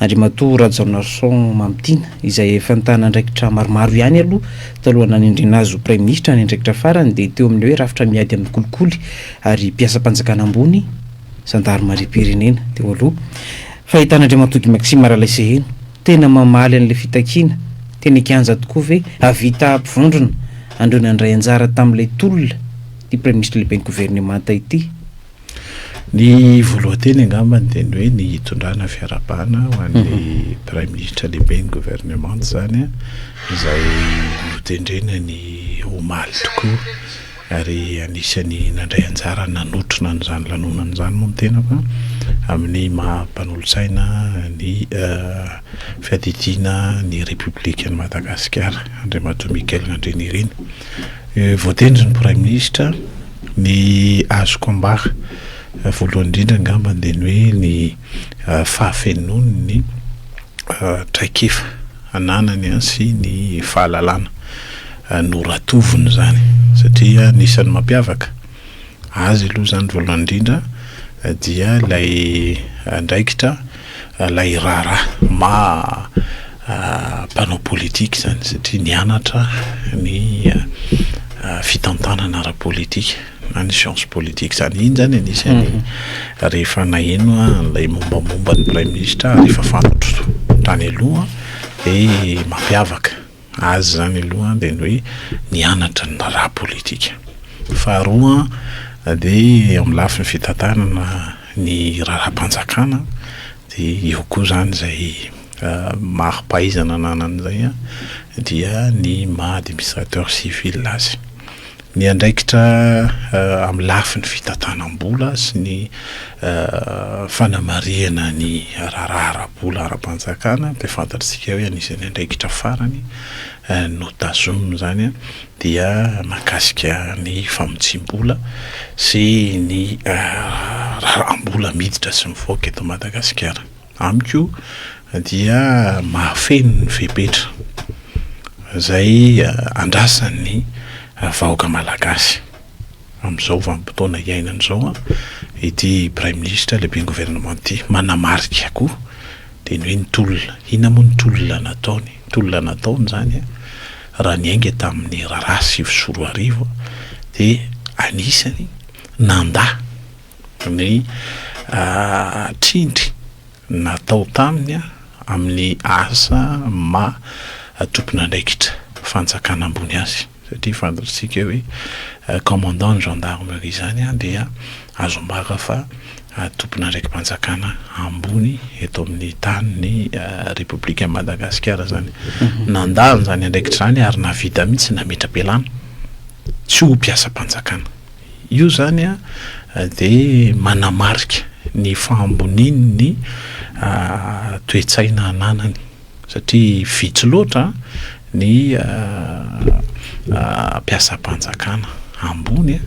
Andriamatoa Rajaonarison Mamitiana, izay efa nitana andraikitra maromaro ihany aloha talohan'ny nanendrena azy ho Praiminisitra, ny andraikitra farany dia teo amin'ny hoe rafitra miady amin'ny kolikoly ary mpiasam-panjakana ambony, zandarimariam-pirenena, teo aloha. Fahitan'Andriamatoa Guy Maxime Ralaiseheno, tena mamaly an'ilay fitakiana, tena an-kianja tokoa ve hahavita hampivondrona an'ireo nandray anjara tamin'ilay tolona ity Praiminisitra Lehiben'ny Governemanta ity? Ny voalohan-teny angambany dia ny hoe ny hitondrana fiarahabana ho an'ny mhm. Praiminisitra lehibe ny governemanta izany izay notendrena ny omaly tokoa ary anisan'ny nandray anjara nanotrona an'izany lanonana izany moa ny tena fa amin'ny maha mpanolotsaina ny eh, fiadidiana ny Repoblikan'i Madagasikara Andriamatoa Michael Nandrianirina. Eh, voatendry ny Praiminisitra Ny azoko ambara voalohany indrindra angambany dia ny hoe ny fahafenoan'ny traikefa ananany sy ny fahalalana noratoviny izany satria ny isan'ny mampiavaka azy aloha izany voalohany indrindra dia ilay andraikitra ilay raharaha maha mpanao politika izany satria nianatra ny fitantanana ara-politika na ny science politique izany, iny izany anisan'ny rehefa naheno aho ilay mombamomba ny praiminisitra ary efa fantatro tany aloha dia mampiavaka azy izany aloha dia ny hoe nianatra ny raharaha politika, faharoa dia amin'ny lafiny fitantanana ny raharaham-panjakana dia eo koa izany izay. mari-pahaizana ananany izay dia ny maha administrateur civil azy. Ny andraikitra amin'ny lafiny fitantanam-bola sy ny fanamarihana ny raharaha ara-bola ara-panjakana dia fantatr'isika hoe anisan'ny andraikitra farany notazominy izany dia mahakasika ny famotsiam-bola sy ny raharaham-bola miditra sy mivoaka eto Madagasikara. Amiko dia mahafeno ny fepetra izay andrasan'ny vahoaka malagasy amin'izao vanim-potoana iainana izao ity Praiminisitra lehiben'ny Governemanta ity. Manamarika koa dia ny hoe ny tolona, inona moa ny tolona nataony? Ny tolona nataony izany raha niainga tamin'ny raharaha sivy sy roa arivo dia anisany nandà. ny trindry natao taminy amin'ny asa maha tompon'andraikitra fanjakana ambony azy satria fantatsika hoe commandant ny gendarmerie izany dia azo ambara fa tompon'andraiki-panjakana ambony eto amin'ny tany ny repoblikan'i Madagasikara izany nandà an'izany andraikitra izany ary nahavita mihitsy nametra-pialana tsy ho mpiasam-panjakana. Io izany dia manamarika ny fahamboniany ny toe-tsaina ananany satria vitsy loatra ny mpiasam-panjakana ambony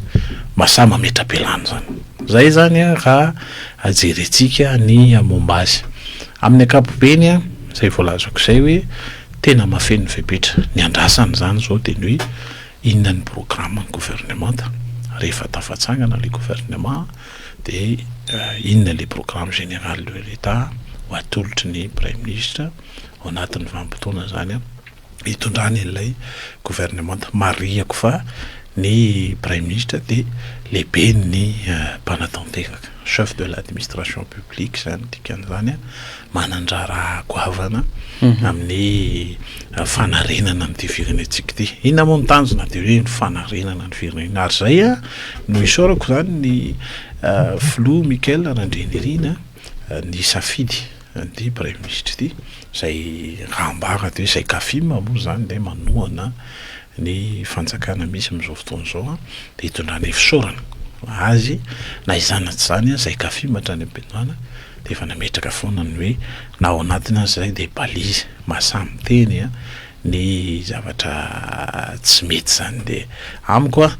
mba sahy mametra-pialana izany. Izay izany raha jerentsika ny momba azy. Amin'ny ankapobeny izay voalazako izay hoe tena mahafeno ny fepetra. Ny andrasana izany izao dia ny hoe. Inona ny programme ny gouvernemanta? Rehefa tafatsangana le gouvernement dia inona le programme général de l'Etat ho atolotry ny praiminisitra ao anatin'ny vanim-potoana zany hitondrany an'ilay gouvernemanta? Marihako fa ny praiminisitra dia lehiben'ny mpanatanteraka, chef de l'administration publique zany dikan'izany. manan-draharaha goavana amin'ny fanarenana an'ity firenentsika ity. Inona moa ny tanjona dia hoe ny fanarenana ny firenena. Ary izay a, no isaorako izany ny filoha Michael Randrianirina nisafidy an'ity praiminisitra ity izay raha ambara dia hoe izay Cafim moa izany dia manohana ny fanjakana misy amin'izao fotoana izao dia hitondrana ifisaorana ho azy na izany na tsy izany aza i Kafim hatrany amin'ny Benoît dia efa nametraka foana ny hoe na ao anatiny aza izay dia balise maha samy miteny ny zavatra tsy mety izany dia amiko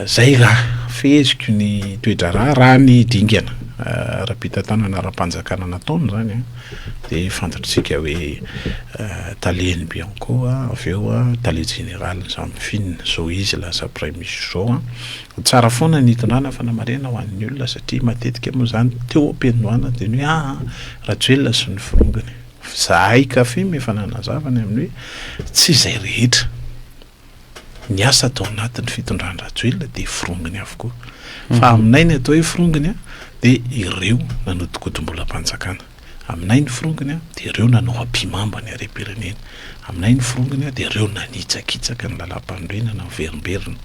Izay raha feheziko ny toe-draharaha raha ny dingana ara-pitantanana ara-panjakana nataony izany dia fantatr'isika hoe talen'ny Bianco avy eo tale jeneralin'ny Zamfin izao izy lasa praiminisitra izao an. Tsara foana ny hitondrana fanamarihana ho an'ny olona satria matetika moa izany teo am-piandohana dia ny hoe aa Rajoelina sy ny forongony. Izahay Cafim efa nanazava ny amin'ny hoe tsy izay rehetra. ny asa tao anatin'ny fitondrany Rajoelina dia forongony avokoa. Fa mhm. aminay ny atao hoe forongony a dia ireo nanodikodimbolam-panjakana. Aminay ny forongony a dia ireo nanao ampimamba ny harem-pirenena. Aminay ny forongony a dia ireo nanitsakitsaka ny lalam-panorenana miverimberina.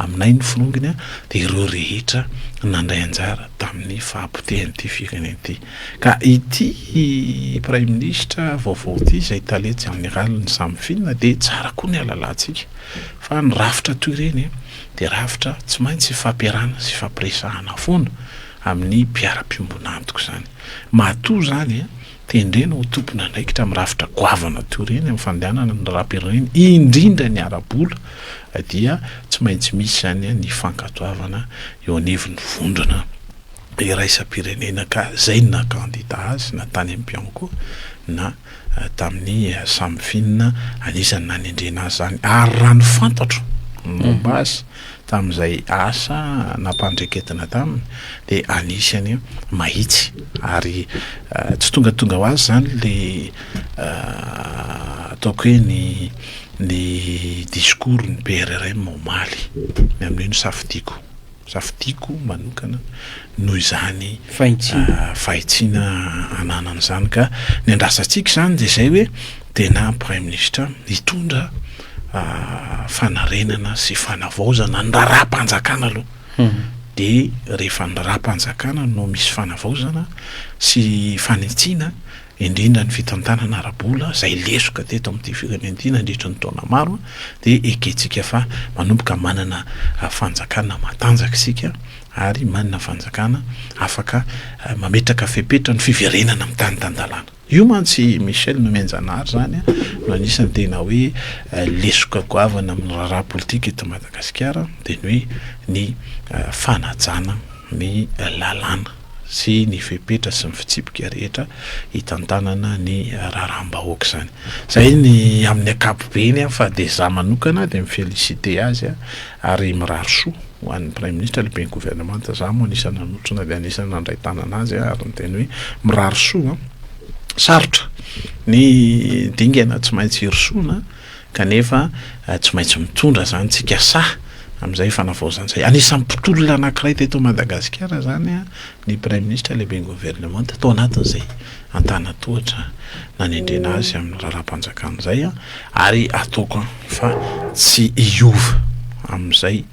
Aminay ny forongony a dia ireo rehetra nandray anjara tamin'ny fahapotehan'ity firenena ity. Ka ity Praiminisitra vaovao ity izay Tale Jeneraly ny samy Fina dia tsara koa ny halalantsika fa ny rafitra toy ireny dia rafitra tsy maintsy ifampiarahana sy ifampiresahana foana amin'ny mpiara-piombona antoko izany. Matoa izany tendrena ho tompon'andraikitra amin'ny rafitra goavana toy ireny amin'ny fandehanana ny rahampirerena indrindra ny ara-bola dia tsy maintsy misy izany ny fankatoavana eo anivon'ny vondrona iraisam-pirenena ka izay naha kandida azy na tany amin'ny Bianco na tamin'ny samy finina anisan'ny nanendrena azy izany ary raha ny fantatro ny momba azy tamin'izay asa nampandraiketina taminy dia anisany mahitsy ary tsy tongatonga ho azy izany le ataoko hoe ny ny discours ny PRRM omaly ny amin'io no safidiako. Safidiako manokana noho izany fahitsiana ananany izany ka ny andrasantsika izany dia izay hoe tena praiminisitra hitondra fanarenana sy fanavaozana ny raharaham-panjakana aloha dia rehefa ny raharaham-panjakana no misy fanavaozana sy fanitsiana indrindra ny fitantanana ara-bola izay lesoka teto amin'ity firenena ity nandritra ny taona maro dia ekentsika fa manomboka manana fanjakana matanjaka isika ary manana fanjakana afaka mametraka fepetra ny fiverenana amin'ny tany tan-dalàna. Io mantsy i Michel Nomenjanahary izany no anisan'ny tena hoe lesoka goavana amin'ny raharaha politika eto Madagasikara dia ny hoe ny fanajana ny lalàna. sy ny fepetra sy ny fitsipika rehetra hitantanana ny raharaham-bahoaka izany. Izay ny amin'ny ankapobeny fa dia izaho manokana dia mi-féliciter azy ary mirary soa ho an'ny Praiminisitra, Lehiben'ny Governemanta, izaho moa anisan'ny nanotrona dia anisan'ny nandray tanana azy ary niteny hoe mirary soa, sarotra ny dingana tsy maintsy hirosoana. Kanefa, tsy maintsy mitondra izany tsika sahy amin'izay fanavaozana izay. Anisan'ny mpitolona anankiray teto Madagasikara izany ny Praiminisitra, Lehiben'ny Governemanta, tao anatin'izay antanan-tohatra nanendrena azy amin'ny Raharaham-panjakana izay, ary ataoko fa tsy hiova amin'izay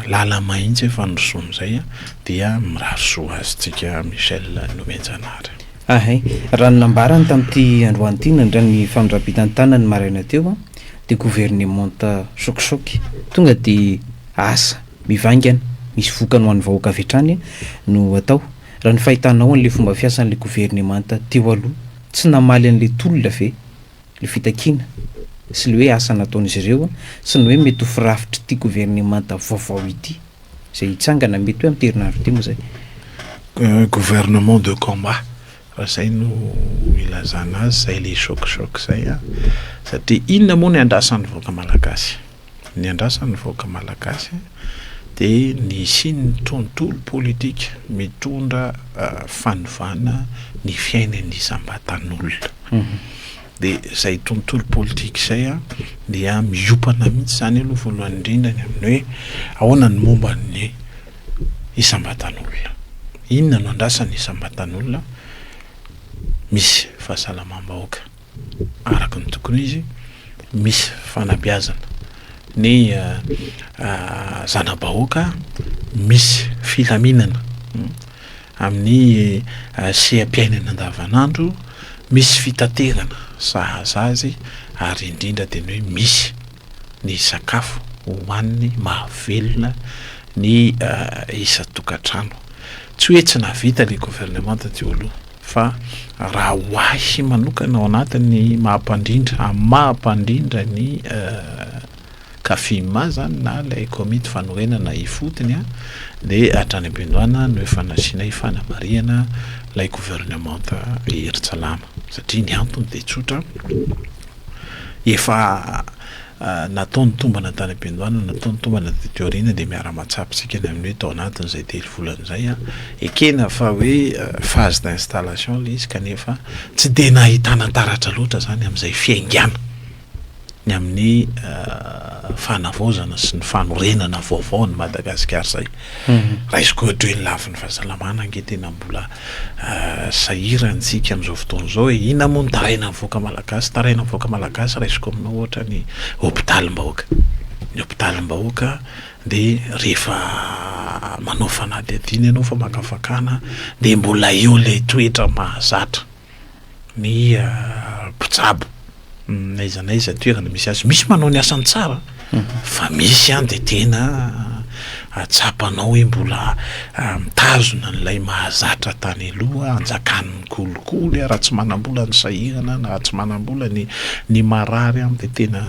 lala-may intsy efa nirosoany izay dia mirary soa azy tsika Michel Nomena Janahary. Ahay. Raha ny nambarany tamin'ity androany ity nandray ny famindram-bitan'ny tanany ny maraina teo dia governemanta sôkisôky. Tonga dia asa mivaingana misy vokany ho an'ny vahoaka avy hatrany no atao. Raha ny fahitanao an'ilay fomba fiasan'ilay governemanta teo aloha, tsy namaly an'ilay tolona ve? Ilay fitakiana sy ilay hoe asa nataon'izy ireo sy ny hoe mety ho firafitr'ity governemanta vaovao ity izay hitsangana mety hoe amin'ity herinandro ity moa izay. Un gouvernement de combat raha izay no ilazana azy, izay ilay choc choc izay an! satria inona moa ny andrasan'ny vahoaka malagasy? ny andrasan'ny vahoaka malagasy dia ny hisian'ny tontolo politika mitondra fanovana ny fiainan'ny isam-batan'olona. Dia izay tontolo politika izay dia miopana mihitsy izany aloha voalohany indrindra ny amin'ny hoe ahoana ny momba ny isam-batan'olona. Inona no andrasan'ny isam-batan'olona? Misy fahasalamam-bahoaka. araka ny tokony izy misy fanabeazana ny zana-bahoaka misy filaminana amin'ny seha-piainana andavanandro misy fitaterana sahaza azy ary indrindra tena hoe misy ny sakafo hohaniny mahavelona ny isan-tokantrano. Tsy hoe tsy nahavita ilay governemanta teo aloha, fa raha ho ahy manokana ao anatin'ny maha-mpandrindra amin'ny maha-mpandrindra ny Cafim izany na ilay komity fanorenana ifotony dia hatrany am-piandohana no efa nasiana ifanamarihana ilay governemanta Hery Tsalama satria ny antony dia tsotra, Efa natao ny tombana tany am-piandohana, natao ny tombana taty aoriana dia miara-mahatsapa isika ny amin'ny hoe tao anatin'izay telo volana izay ekena fa hoe phase d'installation ilay izy kanefa tsy dia nahitana taratra loatra izany amin'izay fiaingàna ny amin'ny fanavaozana sy ny fanorenana vaovao an'i Madagasikara izay. Raisiko ohatra hoe ny lafiny fahasalamana ange tena mbola sahirantsika amin'izao fotoana izao e, inona moa no tarainan'ny vahoaka malagasy? Tarainan'ny vahoaka malagasy raisiko aminao ohatra ny hopitalim-bahoaka, ny hopitalim-bahoaka dia rehefa manao fanadihadiana ianao famakafakana dia mbola eo ilay toetra mahazatra. ny mpitsabo n'aiza n'aiza toerana misy azy, misy manao ny asany tsara fa misy ihany dia tena tsapanao hoe mbola mitazona an'ilay mahazatra tany aloha, anjakan'ny kolikoly, raha tsy manam-bola ny sahirana na raha tsy manam-bola ny ny marary dia tena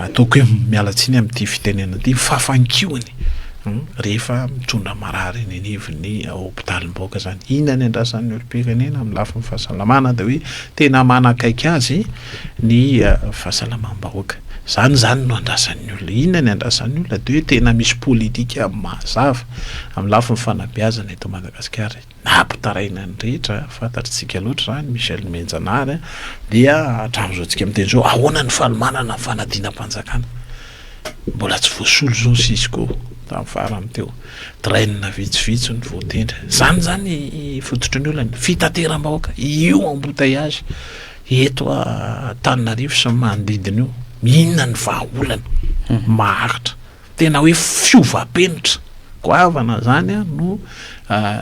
ataoko hoe miala tsiny amin'ity fitenenana ity, ny fafankiony. Rehefa mitondra marary eny anivon'ny hopitalim-bahoaka izany, inona ny andrasan'ny olom-pirenena amin'ny lafiny fahasalamana dia hoe tena manakaiky azy ny fahasalamam-bahoaka. Izany izany no andrasan'ny olona. Inona ny andrasan'ny olona dia hoe tena misy politika mazava amin'ny lafiny fanabeazana eto Madagasikara. Nampitaraina ny rehetra, fantatr'tsika loatra izany, Michel Mihenjanahary, dia hatramin'izao tsika miteny izao, ahoana ny fanomanana ny fanadinam-panjakana? Mbola tsy voasolo izao Cisco, tamin'ny farany teo. Train vitsivitsy no voatendry. Izany izany fototry ny olana, fitateram-bahoaka, io embouteillage eto Antananarivo sy ny manodidina io. Inona ny vahaolana? Maharitra. Tena hoe fiovam-penitra goavana izany no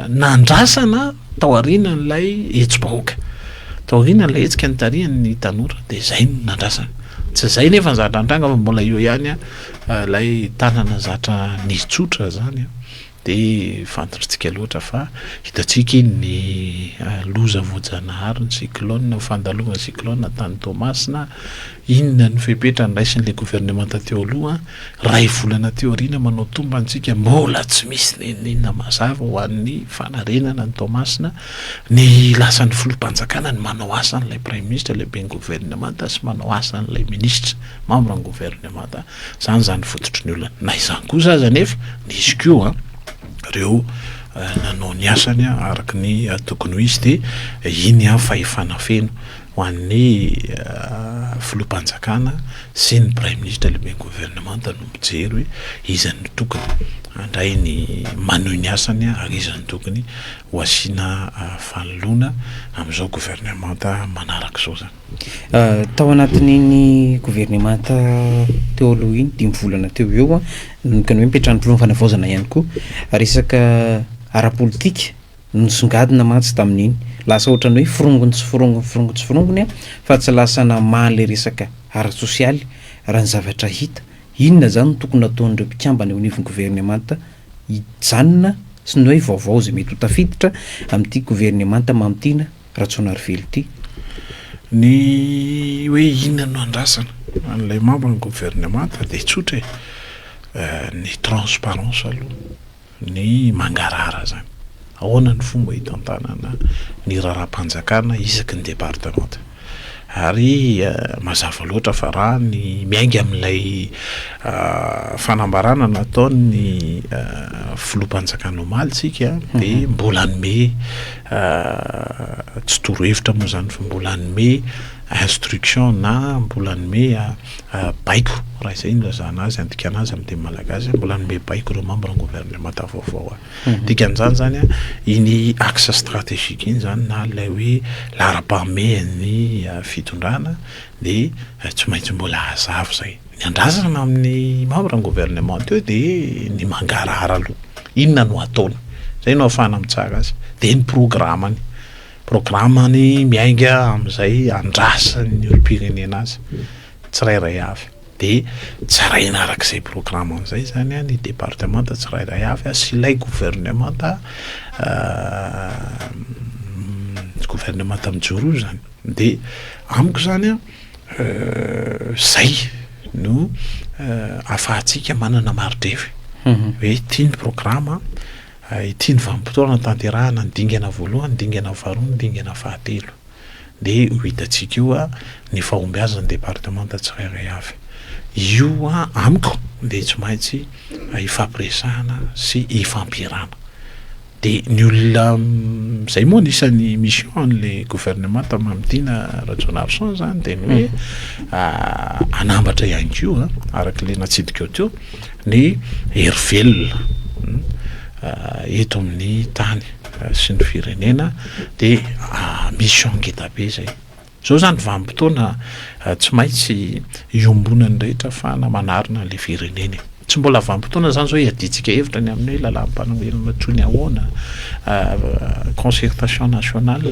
nandrasana tao aorianan'ilay hetsi-bahoaka. Tao aorianan'ilay hetsika nitarihan'ny tanora dia izay no nandrasana. Tsy izay nefa ny zatra nitranga fa mbola eo ihany ilay tanana zatra nitsotra izany. Dia fantatrintsika loatra fa hitantsika iny ny loza voajanahary ny cyclone, ny fandalovan'ny cyclone tany Toamasina, inona ny fepetra niraisin'ilay gouvernemanta teo aloha, iray volana teo aoriana manao tomba antsika mbola tsy misy na inona na inona mazava ho an'ny fanarenana an'i Toamasina, ny lasan'ny filoham-panjakana ny manao asan'ilay praiminisitra, ilay ben'ny gouvernemanta sy manao asan'ilay minisitra, membre ny gouvernemanta. Izany izany fototry ny olana. Na izany kosa aza anefa, nisy koa ireo nanao ny asany araka ny tokony ho izy, dia iny an fahefana feno ho an'ny filoham-panjakana sy ny praiminisitra lehiben'ny governemanta no mijery hoe iza no tokony handray ny, manohy ny asany ary iza no tokony ho asiana fanoloana amin'izao governemanta manaraka izao izany. Tao anatin'iny governemanta teo aloha iny, dimy volana teo ho eo, nanomboka ny hoe nipetran'ny Filoham-panavaozana ihany koa. Resaka ara-politika no nisongadina mantsy tamin'iny. Lasa ohatran'ny hoe forongony tsy forongony forongony tsy forongony fa tsy lasa namaha an'ilay resaka ara-tsosialy raha ny zavatra hita. Inona izany no tokony nataon'ireo mpikambana eo anivon'ny governemanta hijanona sy ny hoe vaovao izay mety ho tafiditra amin'ity governemanta mamo ity na Rajaonarivelo ity. Ny hoe inona no andrasana an'ilay membre ny gouvernemanta dia tsotra e, ny transparence aloha, ny mangarahara izany. Ahoana ny fomba hitantanana ny raharaham-panjakana isaky ny departemanta. Ary mazava loatra fa raha ny miainga amin'ilay fanambarana nataon'ny filoham-panjakana omaly isika dia mbola hanome Aah tsy torohevitra moa zany fa mbola hanome instruction na mbola hanome baiko raha izay no ilazana azy handikana azy amin'ny teny malagasy mbola hanome baiko ireo membre ny gouvernemanta vaovao dikan'izany zany a iny axe strategique iny zany na ilay hoe laharam-pahamehan'ny fitondrana dia tsy maintsy mbola hazava izay. Ny andrasana amin'ny membre ny gouvernement teo de ny mangarahara aloha inona no ataony zay no afahana mitsara azy de ny programany programany miainga amizay andrasan'ny olompirenena azy tsirairay avy de tsaraina arak'izay programany zay zany a ny departemanta tsirairay avy sy ilay gouvernemanta gouvernemanta mijoro io zany de amiko zany a. Izay no ahafahantsika manana mari-drery hoe ity ny programa, ity ny vanim-potoana hanatanterahana ny dingana voalohany, dingana faharoa, ny dingana fahatelo. Dia ho hitantsika eo ny fahombiazan'ny departemanta tsirairay avy. Io amiko dia tsy maintsy ifampiresahana sy ifampierahana. De ny olona izay moa anisan'ny mission an'le gouvernement tam Amitiana Rajaonarison zany de ny hoe hanambatra ihany koa araka le natsidikao teo ny hery velona eto amin'ny tany sy ny firenena de mission ngeda be zay. Izao izany vanim-potoana tsy maintsy iombonan'ny rehetra afahana manarina an'ilay firenena e. Tsy mbola vanim-potoana izany izao hiadiantsika hevitra ny amin'ny hoe lalàm-panoherana toy ny ahoana, concertation nationale,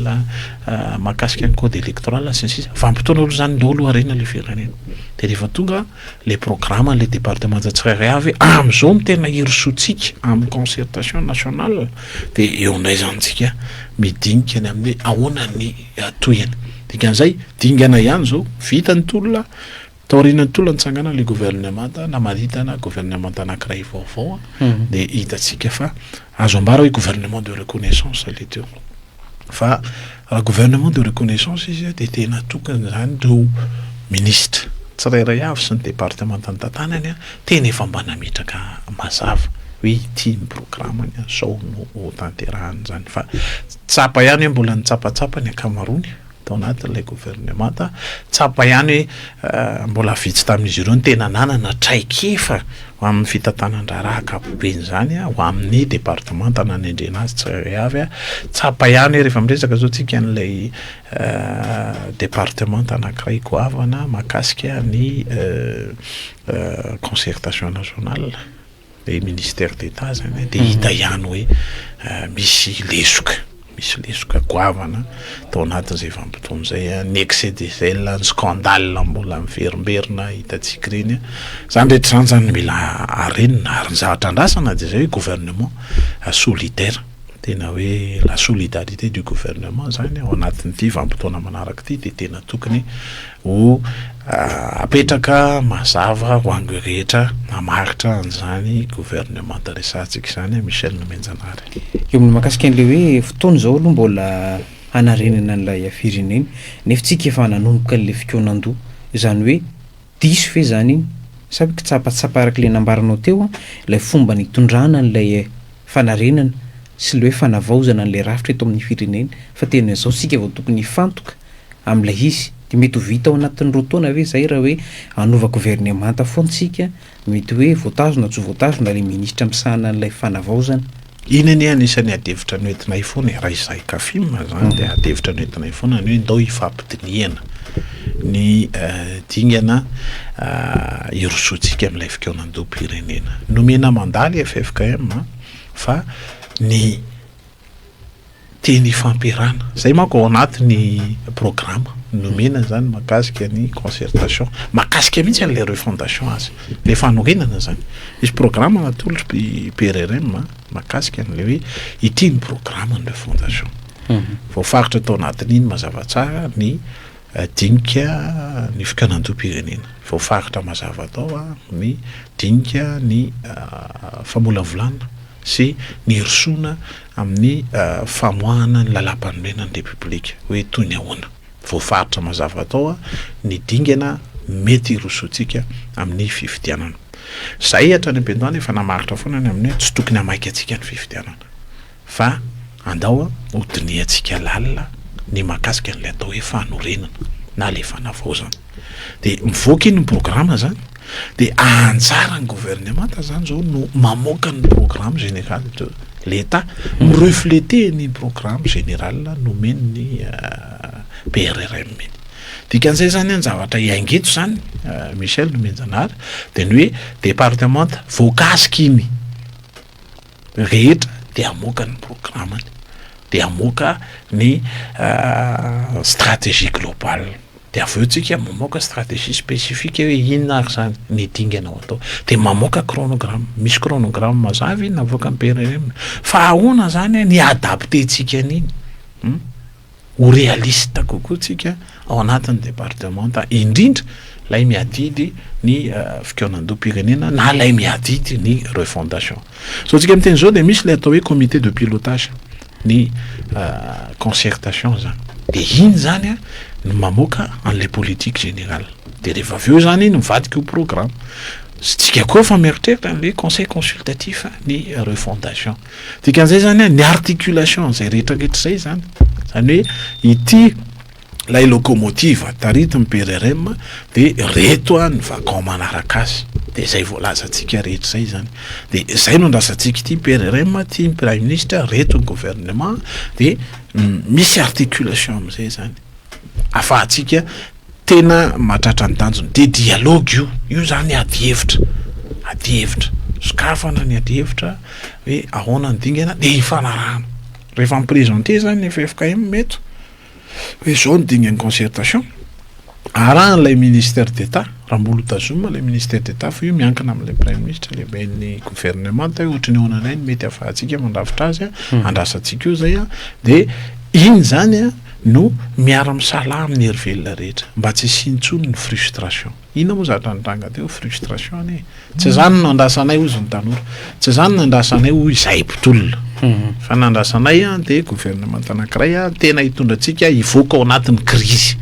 mahakasika ny code électoral sy ny sisa. Vanim-potoana aloha izany ndao aloha harena ilay firenena. Dia rehefa tonga ilay programan'ilay departemanta tsirairay avy hoe amin'izao no tena hirosoantsika amin'ny concertation nationale dia eo indray izany isika midinika ny amin'ny hoe ahoana ny Iatohina. Dikan'izay, dingana ihany izao, vita ny tolona, taorian'ny tolona nitsangana ilay governemanta, namaritana governemanta anankiray vaovao, dia hitantsika fa azo ambara hoe gouvernement de reconnaissance ilay teo. Fa raha gouvernement de reconnaissance izy dia tena atokana izany ireo minisitra tsirairay avy sy ny departemanta nitantanany, tena efa mba nametraka mazava hoe ity ny programany, izao no hotanterahan'izany fa Tsapa ihany hoe mbola nitsapatsapa ny ankamaroany tao anatin'ilay governemanta. Tsapa ihany hoe mbola vitsy tamin'izy ireo no tena nanana traikefa ho amin'ny fitantanan-draharaha ankapobeny izany, ho amin'ny departemanta nanendrena azy tsirairay avy. Tsapa ihany hoe rehefa miresaka izao isika an'ilay departemanta anankiray goavana mahakasika ny concertation nationale. Ilay ministère d'Etat zany a, dia hita ihany hoe misy lesoka, misy lesoka goavana tao anatin'izay vanim-potoana izay a, ny excès de zèle, ny scandale mbola miverimberina hitantsika ireny a, izany rehetra izany izany no mila harenina, ary ny zavatra andrasana dia izay hoe gouvernement solidaire, tena hoe la solidarité du gouvernement izany ao anatin'ity vanim-potoana manaraka ity dia tena tokony Ho apetraka mazava ho an'ireo rehetra mamaritra an'izany governemanta resahantsika izany, Michel Nomenjanary. Eo amin'ny mahakasika an'ilay hoe fotoana izao aloha mbola hanarenana an'ilay firenena, nefa tsika efa nanomboka an'ilay fikaonan-doha. Izany hoe diso ve izany iny? Sa hoe kitsapatsapa araka ilay nambaranao teo ilay fomba nitondrana an'ilay fanarenana sy ilay hoe fanavaozana an'ilay rafitra eto amin'ny firenena, fa tena izao isika vao tokony hifantoka? amin'ilay izy. Dia mety ho vita ao anatin'ny roa taona ve izay raha hoe hanova governemanta foana isika, mety hoe voatazo na tsy voatazo na ilay minisitra misahana an'ilay fanavaozana. Iny anie anisan'ny ady hevitra noentinay foana e, raha izahay Cafim izany dia ady hevitra noentinay foana ny hoe ndao hifampidinihana ny dingana hirosoantsika amin'ilay fikaonandoham-pirenena. Nomena mandat ilay ffkm fa ny. Teny ifampiarahana. Izay manko ao anatin'ny programa nomena izany mahakasika ny concertation. Mahakasika mihitsy an'ilay refondation azy. Ilay fanorenana izany. Misy programa natolotry ny PRRM mahakasika an'ilay hoe ity ny programan'ny refondation. Voafaritra tao anatin'iny mazava tsara ny dinika ny fikanan-doham-pirenena. Voafaritra mazava tao ny dinika ny famolavolana. sy nirosoana amin'ny famoahana ny Lalàmpanorenan'ny Repoblika, hoe toy ny ahoana. Voafaritra mazava tao ny dingana mety hirosoantsika amin'ny fifidianana. Izahay hatrany am-piandohana efa namaritra foana ny amin'ny hoe tsy tokony hamaika antsika ny fifidianana, fa andao ho dinihantsika lalina ny mahakasika an'ilay atao hoe fanorenana na ilay fanavaozana. de mivoaka iny ny programme zany de anjaran'ny gouvernemanta zany zao no mamoaka ny programme général de l'etat mi refleter ny programme général nomen'ny euh, PRRM iny dikan'izay zany an zavatra iaingeto zany euh, Michel Nomenjanahary de ny hoe département voakasika iny rehetra dia hamoaka ny programany, dia hamoaka ny stratégie globale, dia avy eo tsika mamoaka stratégie spécifique hoe inona ary zany ny dingana ao atao, dia mamoaka chronogramme, misy chronogramme mazava iny avoakan'ny PRRM, fa ahoana zany ny adapter tsika an'iny? ho realista kokoa tsika ao anatin'ny departemanta indrindra lay miadidy ny fikaonandoham-pirenena na lay miadidy ny refondation. Zao tsika miteny zao dia misy lay atao hoe comité de pilotage ny concertation zany. De iny zany a no mamoaka an'ilay politique générale. De rehefa avy eo zany iny mivadika ho programme. Sy tsika koa efa mieritreritra an'ilay conseil consultatif ny refondation. Dikan'izay izany ny articulation an'izay rehetra rehetra izay izany. Izany hoe ity ilay locomotive taritin'ny PRRM dia reto ny vacon manaraka azy. Dia izay voalazantsika rehetra izay izany. Dia izay no andrasantsika ity PRRM, ity ny Prime Ministre, reto ny gouvernement dia misy articulation amin'izay izany. Afahantsika Tena mahatratra ny tanjony dia dialogue io, io zany ady hevitra, ady hevitra, sokafana ny ady hevitra hoe ahoana ny dingana dia hifanarahana, rehefa mi-presenter zany ny ffkm eto hoe izao ny dingan'ny concertation, arahan'ilay ministère d'Etat, raha mbola hotazomina ilay ministère d'Etat fa io miankina amin'ilay praiminisitra lehiben'ny governemanta hoe ohatry ny ahoana indray ny mety ahafahantsika mandrafitra azy a, andrasantsika eo izay a, dia iny zany a. no miara misalaha amin'ny hery velona rehetra mba tsy hisiany intsony ny frustration. Inona moa zatra nitranga teo? Frustration anie e! Tsy izany no nandrasanay hozy ny tanora. Tsy izany no nandrasanay hoy izahay mpitolona. Fa ny nandrasanay dia gouvernement anankiray tena hitondra antsika hivoaka ao anatin'ny crise.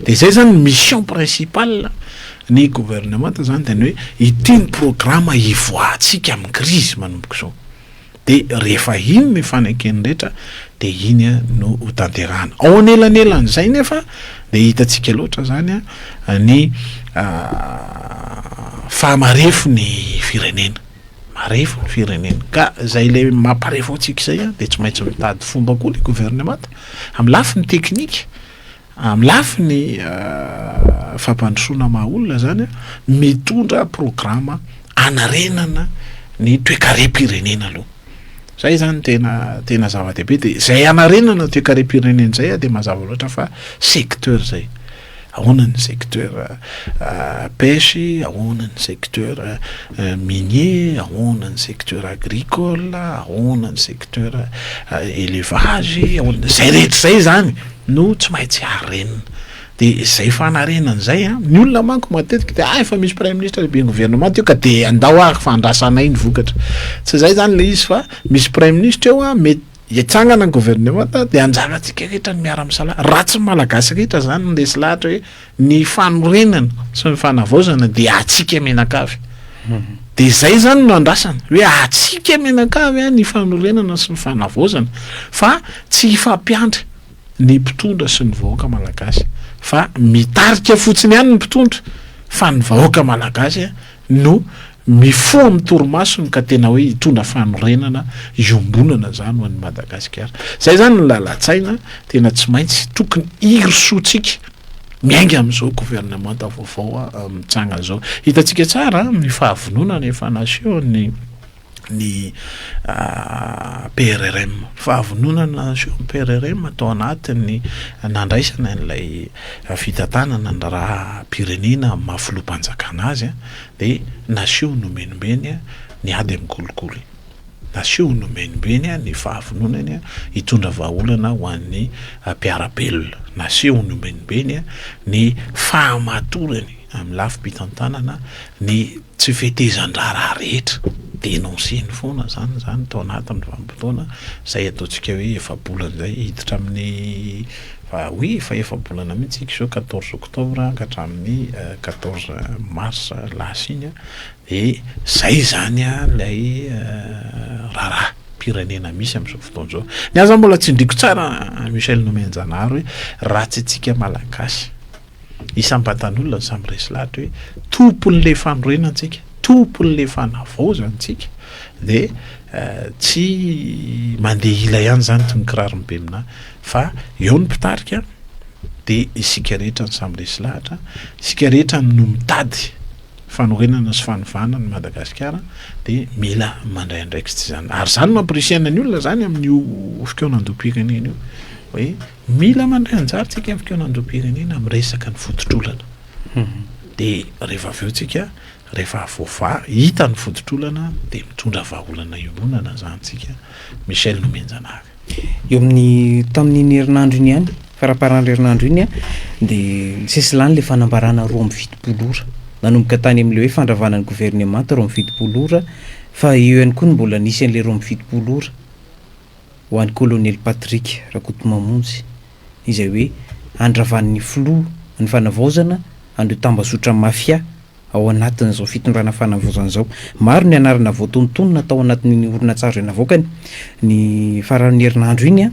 Dia izay izany ny mission principale ny gouvernement izany dia ny hoe ity ny programme hivoahantsika amin'ny crise manomboka izao. de rehefa iny ny fanekeny rehetra de iny no ho tanterahana ao anelanelan'izay nefa de hitantsika loatra zany a ny fahamarefo ny firenena marefo ny firenena ka zay le mamparefo antsika izay a de tsy maintsy mitady fomba koa le governemanta amy lafiny teknika Amin'ny lafiny fampandrosoana maha olona izany, mitondra programa hanarenana ny toekarem-pirenena aloha. Izay izany tena tena zava-dehibe. Dia izay hanarenana toekarem-pirenena izay dia mazava loatra fa secteur izay. Ahoana ny secteur pêche, ahoana ny secteur. minier, ahoana ny secteur agricole, ahoana ny secteur elevage, ahoana, zay rehetra zay zany no tsy maintsy harenina, de zay fanarenana zay a, ny olona manko matetika de ah efa misy praiminisitra lehiben'ny governemanta eo ka de andao ary fa andrasanay ny vokatra, tsy zay zany le izy fa misy praiminisitra eo a mety. Hitsangana ny governemanta dia anjara tsika rehetra ny miara misalahy. Raha tsy ny malagasy rehetra zany no lesy lahatra hoe ny fanorenana sy ny fanavaozana dia atsika mianakavy. Dia zay zany no andrasana hoe atsika mianakavy ny fanorenana sy ny fanavaozana fa tsy hifampiandry. ny mpitondra sy ny vahoaka malagasy fa mitarika fotsiny ihany ny mpitondra fa ny vahoaka malagasy no mifoha amin'ny torimasony ka tena hoe hitondra fanorenana iombonana izany ho an'ny Madagasikara. Izay izany ny lalan-tsaina tena tsy maintsy tokony hirosoantsika miainga amin'izao governemanta vaovao mitsangana izao. Hitantsika tsara ny fahavononana efa nasehon'ny ny PRRM. Fahavononana ny PRRM tao anatin'ny nandraisana ilay fitantanana ny raharaham-pirenena amin'ny maha filoham-panjakana azy dia naseho nomenombeny ny ady amin'ny kolikoly. Naseho nomenombeny ny fahavononany hitondra vahaolana ho an'ny mpiara-belona. Naseho nomenombeny ny fahamatorany. Amin'ny lafim-pitantanana ny tsy fetezan-draharaha rehetra, denoncer-ny foana izany izany tao anatin'ny vanim-potoana izay ataontsika hoe efa-bolana izay, hiditra amin'ny va oui efa efa-bolana mihitsy isika izao quatorze octobre ka hatramin'ny quatorze mars lasa iny a, dia izay izany ilay raharaham-pirenena misy amin'izao fotoana izao. Ny ahy izany mbola tsindriako tsara Michel Nomenjanahary hoe ratsy antsika Malagasy. isam-batan'olona no samy resy lahatra hoe tompon'ilay fanorenana tsika, tompon'ilay fanavaozana tsika dia tsy mandeha ila ihany izany toy ny kiraron'ny beminà fa eo ny mpitarika dia isika rehetra no samy resy lahatra, isika rehetra no mitady fanorenana sy fanovana ny Madagasikara dia mila mandray andraikitra izany ary izany mamporisihana ny olona izany amin'io fikaonan-doha mpirekana iny io hoe Mila mandray anjara tsika amin'ny fikaonan'ireo-pirenena amin'ny resaka ny voditr'olana. Dia rehefa avy eo tsika, rehefa voavaha, hita ny voditr'olana dia mitondra vahaolana iononana izany tsika. Michel Nomenjanahary. Eo amin'ny, tamin'iny herinandro iny ihany, faramparan'ny herinandro iny an, dia nisesy lany ilay fanambarana roa amby fitopolo ora. Nanomboka tany amin'ilay hoe fandravana ny governemanta roa amby fitopolo ora, fa eo ihany koa ny mbola nisy an'ilay roa amby fitopolo ora. ho an'i Kolonely Patrick Rakotomamonjy izay hoe andravan'ny filoha ny fanavaozana an'ireo tambazotra mafia ao anatin'izao fitondrana fanavaozana izao. Maro ny anarana voatonontonona tao anatin'iny horonantsary izay navoakany ny faran'ny herinandro iny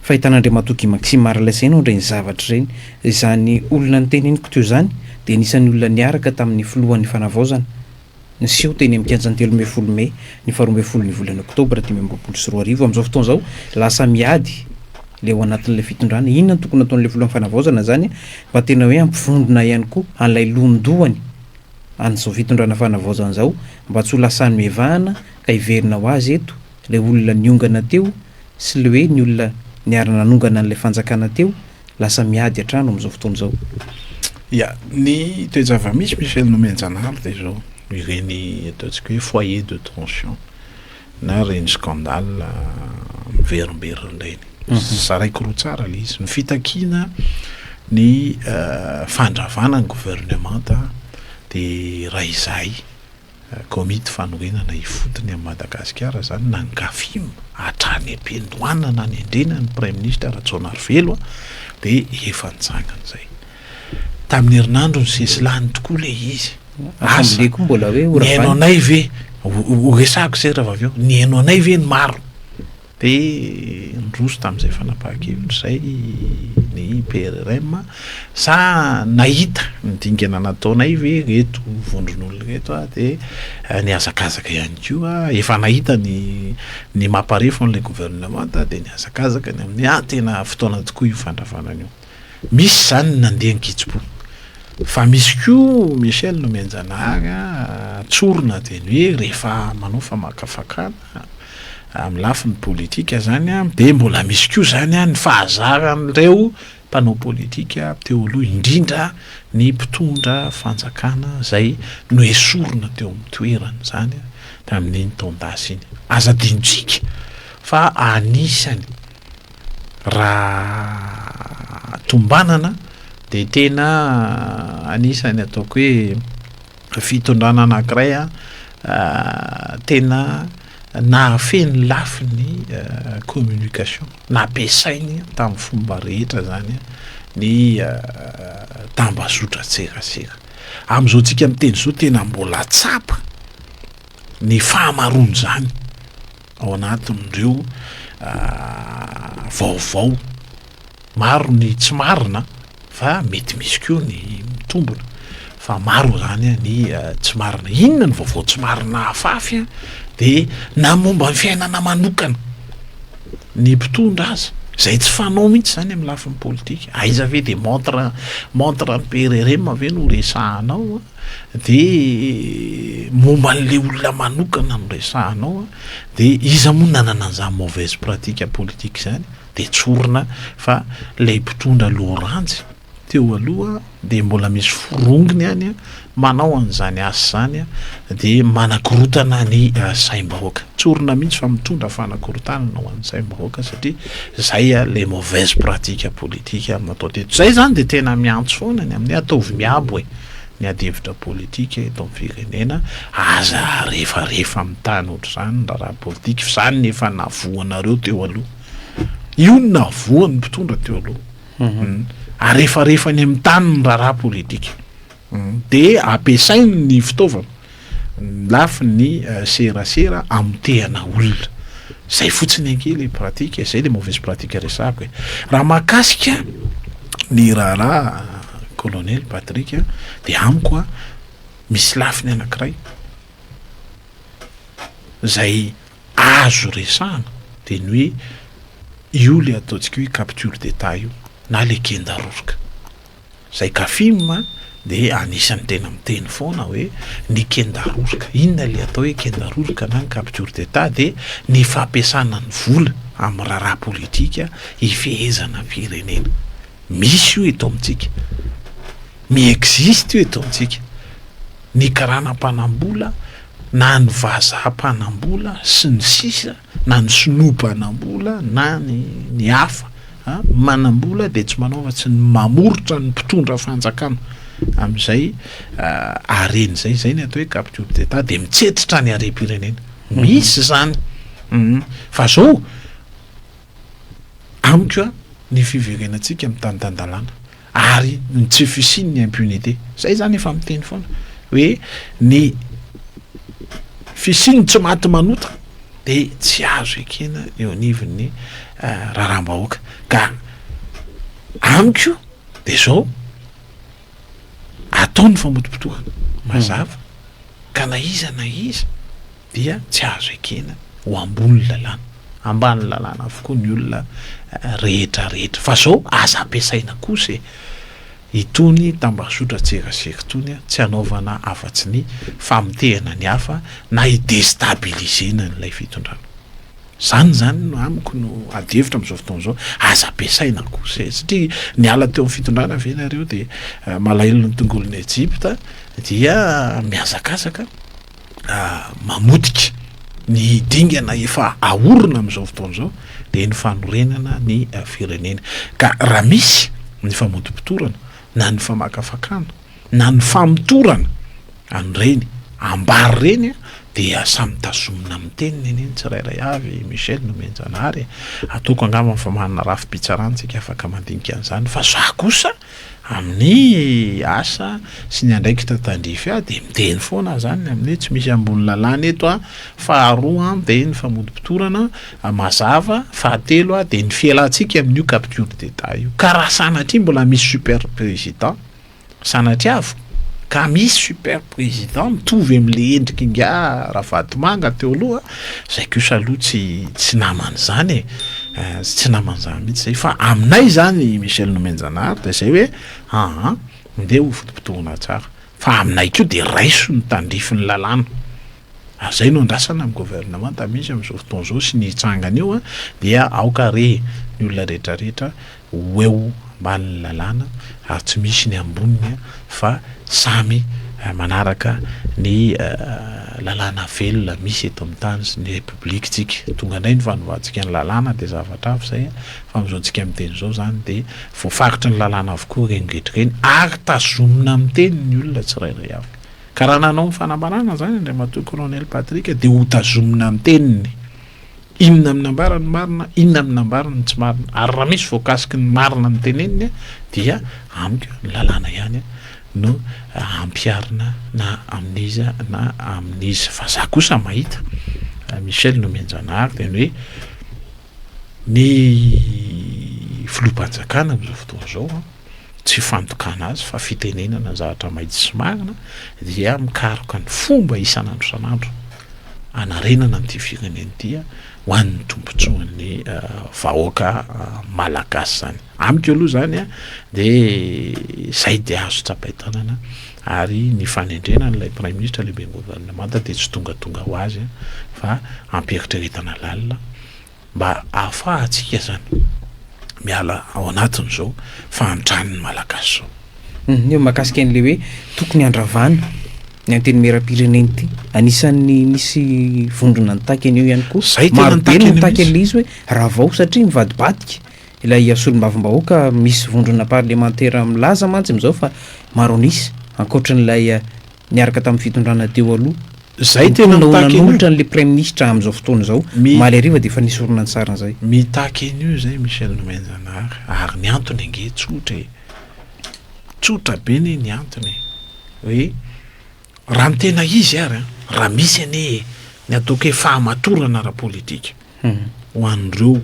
fa ahitan'Andriamatoa Guy Maxime Arles ihany ao amin'ireny zavatra ireny. Izany olona noteniniko teo izany dia anisan'ny olona niaraka tamin'ny filohan'ny fanavaozana Niseho teny amin'ny kianjan'ny telo ambin'ny folo mey ny faharoa ambin'ny folon'ny volana oktobra dimy amby roapolo sy roa arivo. Amin'izao fotoana izao, lasa miady ilay ao anatin'ilay fitondrana. Inona no tokony hataon'ilay filohan'ny fanavaozana izany mba tena hoe hampivondrona ihany koa an'ilay lohandohany an'izao fitondrana fanavaozana izao mba tsy ho lasan'ny mivahana ka hiverina ho azy eto Ilay olona niongana teo sy le hoe ny olona niara-nanongana an'ilay fanjakana teo lasa miady an-trano amin'izao fotoana izao. Ia, ny toe-java-misy Michel Nomenjanahary dia izao, ireny ataontsika hoe foyer de tension na ireny scandale miverimberina ireny. Zaraiko roa tsara ilay izy, ny fitakiana ny fandravana ny governemanta dia iray izay, Komity fanorenana ifotony amin'i Madagasikara izany na ny Gafim hatrany am-piandohana nanendrena ny Praiminisitra Rajaonarivelo dia efa nitsangana izay. Tamin'ny herinandro nisesilany tokoa ilay izy. Assemblée koa mbola hoe ho ravana. Nihaino anay ve, ho resahako izay rahavavy ao, nihaino anay ve ny maro? Dia niroso tamin'izay fanapahan-kevitra izay ny PRRM, sa nahita ny dingana nataonay ve ireto vondron'olona ireto dia nihazakazaka ihany koa? Efa nahita ny ny maha-parefo an'ilay governemanta dia nihazakazaka ny amin'ny, ah, tena fotoana tokoa io fandravana an'io. Misy izany ny nandeha an-kitsim-po. Fa misy koa Michel Nomenjanahary a, tsorina dieny hoe rehefa manao famakafakana amin'ny lafiny politika izany a, dia mbola misy koa izany a ny fahazaran'ireo mpanao politika teo aloha, indrindra ny mpitondra fanjakana izay noesorina teo amin'ny toerany izany a, tamin'iny taon-dasa iny. Aza adinontsika fa anisany Raha tombanana dia tena anisan'ny ataoko hoe fitondrana anankiray tena nahafehy ny lafiny communication, nampiasainy tamin'ny fomba rehetra izany ny tambazotran-tserasera. Amin'izao tsika miteny izao tena mbola tsapa ny fahamaroan'izany Ao anatin'ireo vaovao maro ny tsy marina fa mety misy koa ny mitombina fa maro izany ny tsy marina. Inona ny vaovao tsy marina afafy dia na momba ny fiainana manokana ny mpitondra aza izay tsy fanao mihitsy izany amin'ny lafiny politika. Aiza ve dia montre montre an'i PRRM ve no resahanao a? dia momba an'ilay olona manokana no resahanao a, dia iza moa nanana an'izany mauvaise pratique politique izany dia tsorina fa ilay mpitondra loranjy teo aloha dia mbola misy forongony any a, manao an'izany asa izany a, dia manakorotana ny saim-bahoaka, tsorina mihitsy fa mitondra fanakorotanana ho an'ny saim-bahoaka satria izay a ilay mauvaise pratique politique no atao teto, izay izany dia tena miantso foana ny amin'ny hoe ataovy miabo e. ny adihevitra politika eto amin'ny firenena, aza arefarefa amin'ny tany ohatr'izany ny raharaha politika fa izany no efa nahavoanareo teo aloha, io no nahavoan'ny mpitondra teo aloha, hmm. arefarefa any amin'ny tany ny raharaha politika, hmm. dia ampiasainy ny fitaovana Ny lafiny serasera amotehana olona. Zay fotsiny ange le pratique e, zay le mauvaise pratique resahako e. Raha mahakasika ny raharaha colonel Patrick a, de amiko a, misy lafiny anankiray zay azo resahana de ny hoe io le ataontsika hoe capture d'etat io na le kenda roroka. Zay Kafim a de anisany tena miteny foana hoe ny kendaroroka inona le atao hoe kendaroroka na ny capture d'etat de ny fampiasana ny vola amin'ny raharaha politika hifehezana ny firenena misy io eto amintsika mi existe io eto amintsika ny karana mpanambola na ny vazaha mpanambola sy ny sisa na ny sinoa banambola na ny ny hafa a manambola dia tsy manao afa-tsy ny mamoritra ny mpitondra fanjakana amin'izay hareny izay izay ny atao hoe capture d'état dia mitsetitra ny harem-pirenena misy izany fa zao amiko a ny fiverenantsika mitanindandalàna Ary ny tsy fisian' ny impunité. Zay zany efa miteny foana hoe ny fisian' ny tsy maty manota de tsy azo ekena eo anivon' ny raharaham-bahoaka ka amiko de zao atao ny famotopotohana mazava ka na iza na iza dia tsy azo ekena ho ambony lalàna, ambany lalàna avokoa ny olona rehetra rehetra fa zao aza ampiasaina kosa e! itony tambazotran-tserasera itony tsy hanaovana afatsy ny famotehana ny hafa na hi-destabiliser-na an'ilay fitondrana, zany zany no amiko no adihevitra am'zao fotoana zao, aza ampiasaina kosa e! satria niala teo amin'ny fitondrana ve nareo dia malahelo ny tongolo ny Ejipta dia mihazakazaka. mamotika ny dingana efa ahorona amin'izao fotoana izao dia ny fanorenana ny firenena ka raha misy ny famotopotorana na ny famakafakana na ny famotorana an'ireny ambary ireny a dia samy tazomina amin'ny teniny anie ny tsirairay avy Michel no mianjanahary ataoko angamba ny famanana rafi-pitsarana tsika afaka mandinika an'izany fa za kosa Amin'ny asa sy ny andraikitra tandrify ahy dia miteny foana aho izany amin'ny hoe tsy misy ambony lalàna eto aho, faharoa dia ny famotopotorana mazava, fahatelo dia ny fialantsika amin'io capture d'etat io ka raha sanatria mbola misy super président sanatria avy Ka misy super président mitovy amle endriky nga Ravatomanga teo aloha zay kosa aloha tsy tsy namany zany e eh tsy namany zany mitsy zay fa aminay zany Michel Nomenjanahary de zay hoe aa nde ho fotopotohina tsara fa aminay ko de raiso ny tandrify ny lalàna ary zay no andrasana am gouvernemanta misy amzao fotoana zao sy ny hitsanga anio dia aoka re ny olona retraretra ho eo ambanin'ny lalàna ary tsy misy ny amboniny fa samy manaraka ny lalàna velona misy eto amin'ny tany sy ny repoblikintsika. Tonga indray ny fanovantsika ny lalàna dia zavatra hafa izay fa amin'izao antsika miteny izao izany dia voafaritra ny lalàna avokoa ireny rehetra ireny ary tazomina miteny ny olona tsirairay avy. Ka raha nanao ny fanambarana izany Andriamatoa Kolonely Patrick dia hotazomina miteny ny. Inona no nambara ny marina, inona no nambara ny tsy marina. Ary raha misy voakasiky ny marina no teneniny dia amiko ny lalàna ihany no ampiharina na amin'iza na amin'iza. Fa za kosa mahita, Michel Nomenjanahary dia ny hoe ny filoham-panjakana amin'izao fotoana izao an, tsy fandokana azy fa fitenenana zavatra maitso sy marina dia mikaroka ny fomba isan'andro isan'andro anarenana an'ity firenena ity ho an'ny tombontsoan'ny vahoaka malagasy zany amiko aloha zany a de zay de azo tsapain-tanana ary ny fanendrena an'ilay prime ministre lehibe gouvernemanta de tsy tongatonga ho azy fa ampieritrereta na lalina mba ahafahantsika zany miala ao anatin'izao fahantran'ny Malagasy zao. Ny hoe makasika an'le hoe tokony handravana ny antenimieram-pirenena ity, anisan'ny misy vondrona nitaky an'io ihany koa. Zay tena Maro be no nitaky an'le izy hoe ravao satria mivadibadika ilay solombavambahoaka, misy vondrona parlemantera milaza mantsy amin'izao fa maro an'isa ankoatran'ilay niaraka tamin'ny fitondrana teo aloha. Zay tena mitaky an'io. Mponina ho nanolotra an'le praiminisitra amin'izao fotoana izao, omaly hariva dia efa nisy horonantsary an'izay. Mitaky an'io izay Michel Nomenjanahary, ary ny antony ange tsotra e! Tsotra be anie ny antony e! Hoe raha ny tena izy ary an, raha misy anie ny ataoko hoe fahamatorana ara-politika ho an'ireo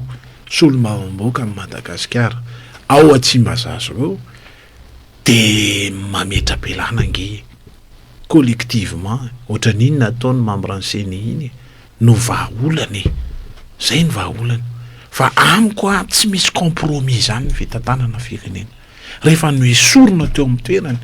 solombavambahoaka an'i Madagasikara ao Tsimbazaza ireo, De mametra-pialana ange e! Collectivement e! Ohatran'iny nataon'ny membran'ny ceni iny e! No vahaolana e! Zay no vahaolana! Fa amiko an, tsy misy compromis zany ny fitantanana firenena! Rehefa noesorina teo amin'ny toerany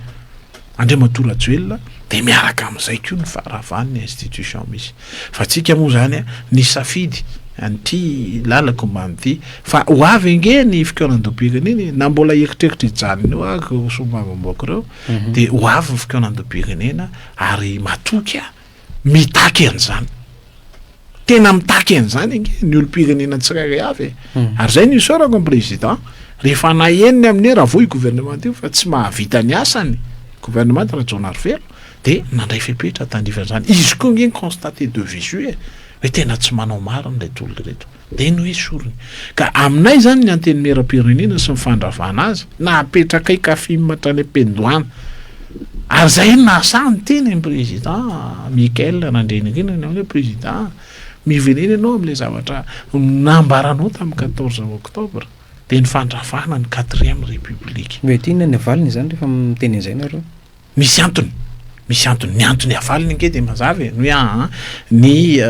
Andriamatoa Rajoelina de miaraka amin'izay koa ny faharavan'ny institution misy! Fa tsika moa zany a nisafidy an'ity lalako ombany ity fa ho avy ange ny fikaonandobiagana iny na mbola hieritreritra hijanona eo ary ireo solombavambaoko ireo mhm. de ho avy ny fikaonandobiaganena ary matoky a mitaky an'izany tena mitaky an'izany ange ny olom-pirenena tsirairay avy e mhm. ary zay ny isaorako ny président rehefa naheniny amin'ny hoe raha voa i gouvernemanta io fa tsy mahavita ny asany gouvernemanta raha jaona arivelo Dia nandray fepetra tandrify an'izany. Izy koa ange ni-constater de visu e! hoe tena tsy manao marina ireto olona ireto. Dia noesoriny. Ka aminay izany ny Antenimieram-pirenena sy ny fandravana azy, napetrakay kafim hatrany am-piandohana. Ary izay no nahasahy niteny an'i Président Michael Randrianirina ny hoe Président a! mivenena ianao amin'ilay zavatra nambaranao tamin'ny quatorze octobre, dia ny fandravana ny quatrième république. Mety inona ny valiny izany rehefa miteny an'izay nareo? Misy antony, misy antony. Ny antony havaliny ange dia mazava e, ny hoe aa ny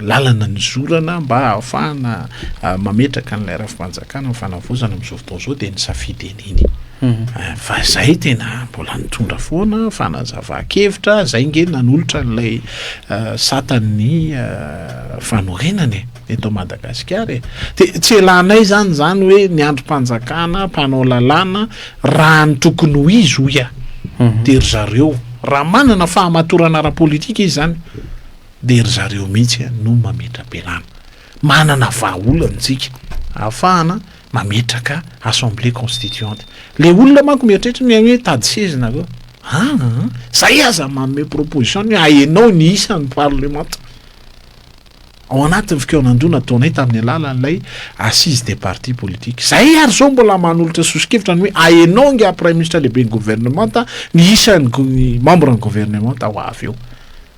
lalana nizorana mba hahafahana mametraka an'ilay rafi-panjakana ny fanavaozana amin'izao fotoana izao dia ny safidy an'iny. Fa izay tena mbola nitondra foana fanazavan-kevitra, izay ange nanolotra an'ilay satan'ny fanorenana e. eto Madagasikara e! Dia tsy elanay izany izany hoe ny andrim-panjakana, mpanao lalàna, raha ny tokony ho izy hoy aho dia ry zareo, raha manana fahamatorana ara-politika izy izany dia ry zareo mihitsy no mametra-pialana. Manana vahaolana isika ahafahana mametraka assemblée constituante. Ilay olona manko mieritreritra ny hoe tady seza nareo. An! Izay aza manome proposition ny hoe ahenao ny isan'ny parlemanta. ao anatin'ny fikaonandoha nataonay tamin'ny alalan'ilay Assise des partis politiques. Izahay ary izao mbola manolotra sosokevitra ny hoe ahenao angaha Praiminisitra Lehiben'ny Governemanta ny isan'ny mambran'ny Governemanta ho avy eo.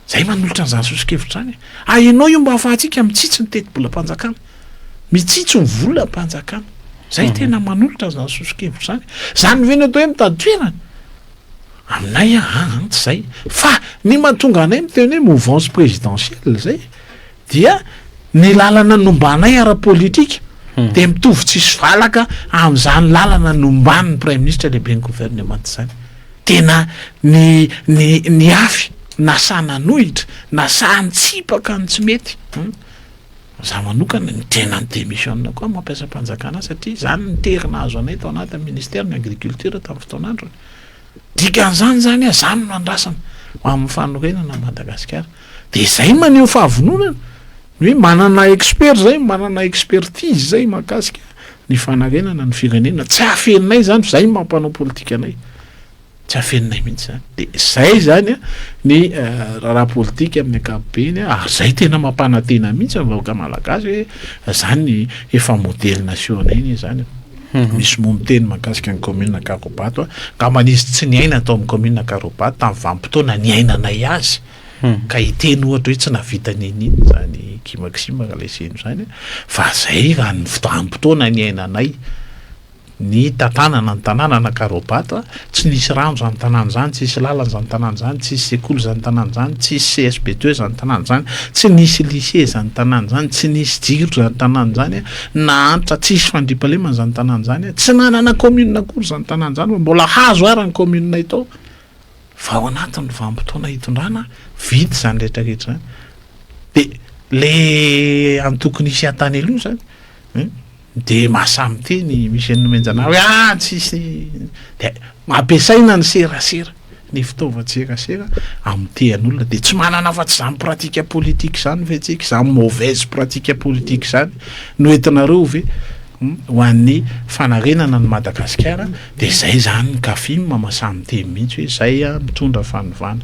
Izahay manolotra an'izany sosokevitra izany. Ahenao io mba ahafahantsika mitsitsy ny tetibolam-panjakana. Mitsitsy ny volam-panjakana. Izahay mhm. tena manolotra an'izany sosokevitra izany. Izany ve ny atao hoe mitady toerana? Aminay an an an tsy izay fa ny mahatonga anay miteny hoe mouvance présidentielle izay dia ny lalana nombanay ara-politika hmm. dia mitovy tsisy valaka amin'izany lalana nomban'ny praiministra lehibe ny governemanta izany tena ny ny ny afy na sananohitra na sahantsipaka ny tsy mety hmm. Za manokana ny tena ny demission ko aho mampiasa mpanjakana ahy satria izany no tery nahazo anay tao anatin'ny ministère ny agriculture tamin'ny fotoan'androny. Dikan'izany izany hoe za no nandrasana ho amin'ny fanorenana an'i Madagasikara. Dia izay no maneho fahavononana. Ny hoe manana expert izay, manana expertise izay mahakasika ny fanarenana ny firenena. Tsy hahafehinay izany fa izay no maha mpanao politika anay. Tsy afeninay mihitsy izany. Dia izay izany an, ny raharaha politika amin'ny ankapobeny an, ary izay tena mampanantena mihitsy ny vahoaka malagasy hoe izany ny efa modely nation-nay anie izany an. Misy moa miteny mahakasika ny commune Ankarobato an, angambany izy tsy niaina tao amin'ny commune Ankarobato tamin'ny vanim-potoana niainanay azy, ka hiteny ohatra hoe tsy nahavita ninin izany Guy Maxime Ralaiseno izany an, fa izay raha ny vanim-potoana niainanay. ny tantanana ny tanàna na Karobato, tsy nisy rano izany tanàna izany, tsy nisy lalana izany tanàna izany, tsy nisy sekoly izany tanàna izany, tsy nisy CSBD izany tanàna izany, tsy nisy lycée izany tanàna izany, tsy nisy jiro izany tanàna izany, nahantra tsy hisy fandriampahalemana izany tanàna izany, tsy nanana commune akory izany tanàna izany fa mbola hazo ara ny commune tao fa ao anatin'ny vanim-potoana hitondrana vita izany rehetra rehetra izany dia le antoko nisy an-tany aloha izany. Dia mahasahy miteny i Michel Nomenjanah hoe ah tsisy dia ampiasaina ny serasera, ny fitaovan-tserasera amotehan'olona dia tsy manana afa-tsy izany pratique politique izany ve tsika, izany mauvaise pratique politique izany no entinareo ve ho an'ny fanarenana an'i Madagasikara dia izay izany ny Cafim mahasahy miteny mihitsy hoe izay ah mitondra fanovana.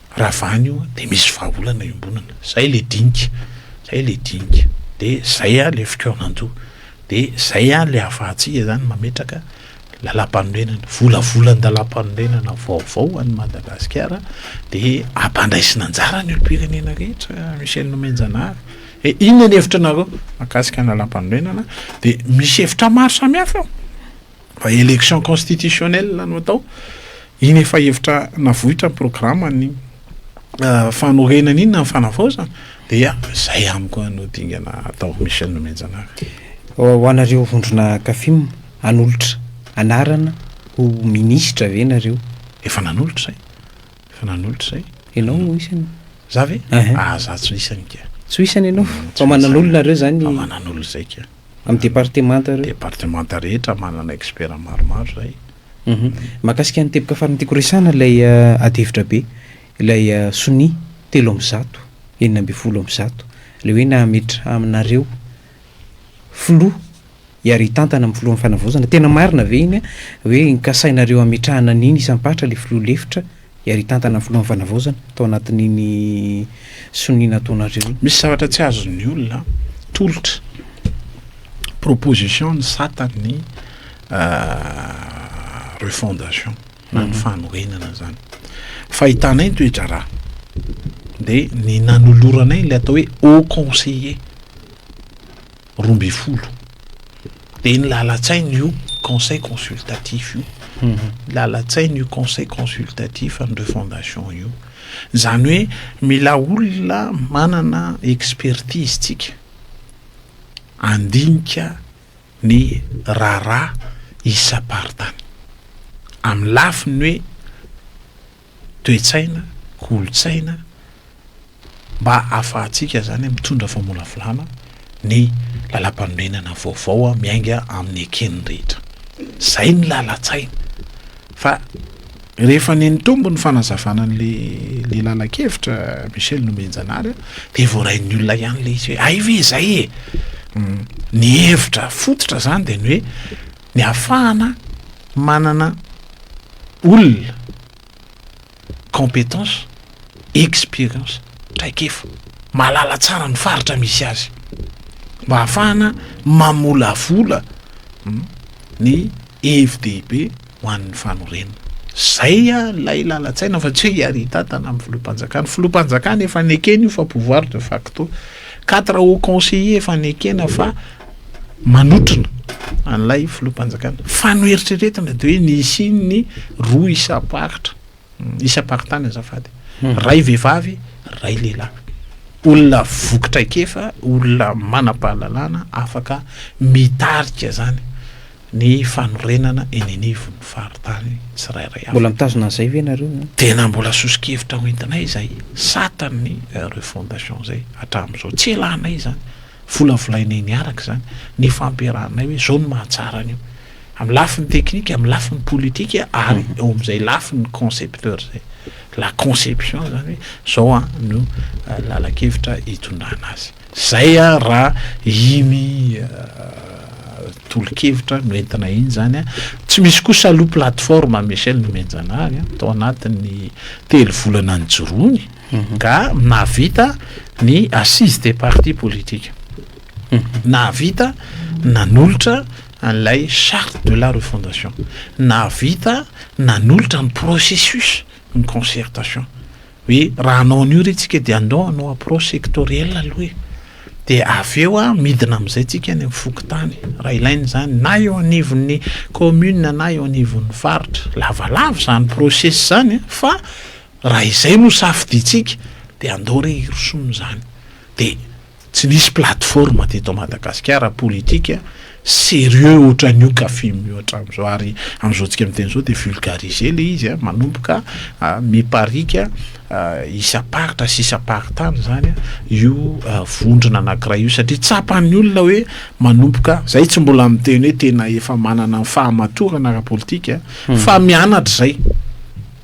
Raha vany io dia misy vahaolana iombonana, zay le dinika, zay le dinika, de zay a le fikaonandoha, de zay a le afahantsika zany mametraka lalampanorenana, volavolan-dalampanorenana vaovao ho an'i Madagasikara de ampandraisina anjara ny olompirenena rehetra Michel Nomenjanahary e, inona ny hevitranareo makasika ny lalampanorenana de misy hevitra maro samihafa eo. Raha élection constitutionnelle no atao, iny efa hevitra navoitra ny programan'ny fanorenana iny na ny fanavaozana dia zay amiko no dingana atao Michel Nomenjanaka. Ho anareo vondrona Cafim, hanolotra anarana ho ministra ve nareo? Efa nanolotra zay, efa nanolotra zay. Ianao no isany? Za ve? Aha, za tsy ho isany ka. Tsy ho isany ianao? Fa manan'olona nareo zany? Fa manan'olona zay ka. Amin'ny departemanta ireo? Departemanta rehetra manana expert maromaro izay. Mahakasika ny teboka farany tiako resahana ilay ady hevitra be, ilay sonia telo amby zato, enina ambin'ny folo amby zato, ilay hoe nahametra aminareo filoha hiara hitantana amin'ny filohan'ny fanavaozana, tena marina ve iny hoe nikasainareo hametrahana an'iny isam-paritra ilay filoha lefitra Iary hitantana ny filohan'ny fanavaozana tao anatin'iny sonia nataonareo iny. Misy zavatra tsy azon'ny olona tolotra. Proposition ny sata ny refondation na ny mhm. fanorenana zany. Fahitanay ny toedraharaha dia ny nanoloranay ilay atao hoe haut conseiller. roa ambin'ny folo dia ny lalan-tsaina io conseil consultatif io ny lalan-tsaina io conseil consultatif an'ireo fondation io izany hoe mila olona manana expertise tsika andinika ny raharaha isam-paritany amin'ny lafiny hoe toe-tsaina, kolontsaina, mba ahafahantsika izany mitondra famolavolana ny lalam-panorenana vaovao miainga amin'ny eken'ny rehetra. Izay ny lalan-tsaina. Fa rehefa nenitombo ny fanazavana an'ilay lalan-kevitra Michel Nomenjanahary dia voarain'ny olona ihany ilay izy hoe hay ve izay e? Ny hevitra fototra izany dia ny hoe ny hahafahana manana olona compétence, expérience, traikefa, mahalala tsara ny faritra misy azy, mba hahafahana mamolavola ny hevi-dehibe ho an'ny fanorenana. Izay ilay lalan-tsaina fa tsy hoe hiarintatana amin'ny filoham-panjakana. Filoham-panjakana efa nekena io fa pouvoir de facto. Quatre hauts conseillers efa nekena fa manotrona an'ilay filoham-panjakana. Fa noeritreretina dia hoe nisian'ny roa isam-paritra, hmm, isam-paritany azafady, hmm. ray vehivavy, ray lehilahy. Olona voky traikefa, olona manam-pahalalana afaka mitarika zany ny fanorenana eny anivon'ny faritany tsirairay avy. Mbola mitazona an'izay ve nareo? Eh? Tena mbola soso-kevitra hoentinay izay satan'ny eh, refondation izay hatramin'izao. Tsy elanay izany. Volavolainay niaraka izany, nifampiarahanay hoe izao no mahatsara an'io. Amin'ny lafiny teknika, amin'ny lafiny politika ary eo amin'izay lafiny concepteur izay. La conception izany hoe izao an no lalan-kevitra hitondrana azy. Izay raha iny tolo-kevitra no entina iny izany. Tsy misy koa salohy plateforme Michel nomenjanahary tao anatin'ny telo volana nijoroany. nga nahavita ny assise des partis politiques nahavita nanolotra an'ilay charte de la refondation nahavita nanolotra ny processus ny concertation hoe raha anao an'io re tsika dia andao anao approche sectorielle aloha e de avy eo a midina am'izay tsika any amin'ny fokontany raha ilaina izany na eo anivon'ny commune na eo anivon'ny faritra lavalava izany process zany fa Raha izay no safidiantsika dia andao re hirosoana izany. Dia tsy nisy plateforme teto Madagasikara politika sérieux ohatran'ny io Cafim io hatramin'izao ary amin'izao tsika miteny izao dia vulgariser ilay izy an, manomboka mipariaka isam-paritra sy isam-paritany izany io vondrona anankiray io satria tsapan'ny olona hoe manomboka, izay tsy mbola miteny hoe tena efa manana ny fahamatorana ara-politika fa mianatra izay.